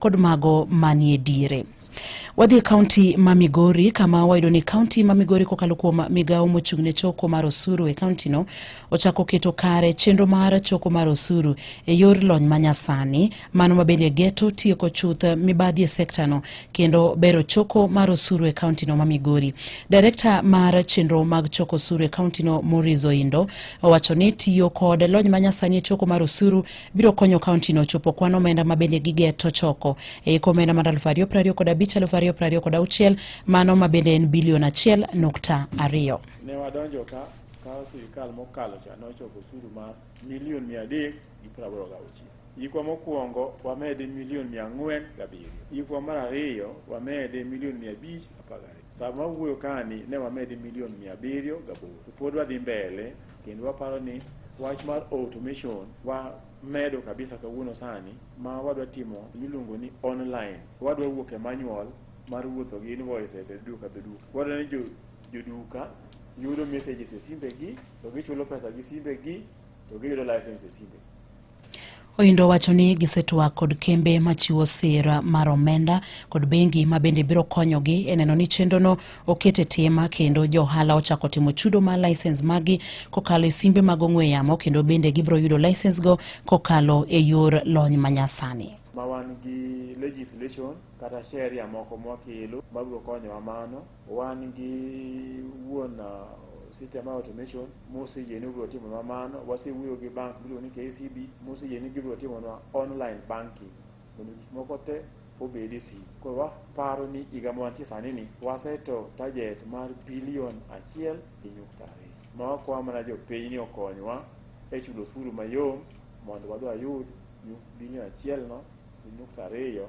kod mago manie diere. Wadhi e kaunti ma Migori kama wayudo ni kaunti ma Migori kokalo kuom migawo mochung' ne choko mar osuru e kauntino ochako keto kare chenro mar choko mar osuru e yor lony manyasani mano mabende geto tieko chuth mibadhi e sektano kendo bero choko mar osuru e kauntino ma Migori. Direkta mar chenro mag choko osuru e kauntino Maurice Oindo owacho ni tiyo kod lony manyasani e choko mar osuru biro konyo kaontino chopo kwan omenda ma bende gigeto choko e iko omenda mar aluf ariyo prariyo kod abich aluf ariyo prariyo kod auchiel mano ma bende en bilion achiel nukta ariyo. Ne wadonjo ka ka sirikal mokalo cha nochoko osuru ma milion mia adek gi praboro gauchiel yikwa mokwongo wamede milion mia ang'wen gabiriyo yikwa mar ariyo wamede milion mia abich apagariyo Sama wawuoyo kani ne wamedi milion mia abiriyo gaboro to pod wadhi mbele kendo waparo ni wach mar automation wa medo kabisa kawuono sani ma wadwa timo miluongo ni online wadwa wuok e manual mar wuotho gi invoices e duka to duka wadwa ni joduka yudo messages e simbegi to gichulo pesa gi simbegi to giyudo license e simbegi Oindo wacho ni gisetwak kod kembe machiwo sira mar omenda kod bengi ma bende biro konyogi e neno ni chenrono oket e tim kendo johala ochako timo chudo mar lisens magi kokalo e simbe mag ong'we yamo kendo bende gibiro yudo lisens go kokalo e yor lony manyasani. Ma wan gi legislation kata sheria moko mwakelo mabiro konyowa mano. Wan gi wuon uh, system mar automation moseyie ni obiro timonwa mano. Wasewuoyo gi bank miluongo ni KCB moseyie ni gibiro timonwa online banking mondo gik moko te obed e simu. Koro waparo ni higa ma wantie sani ni waseto target mar bilion achiel gi nyukta ariyo. Ma wakwa mana jopiny ni okonywa e chulo osuru mayom mondo wadhi wayud nyu- bilion achielno gi nyukta ariyo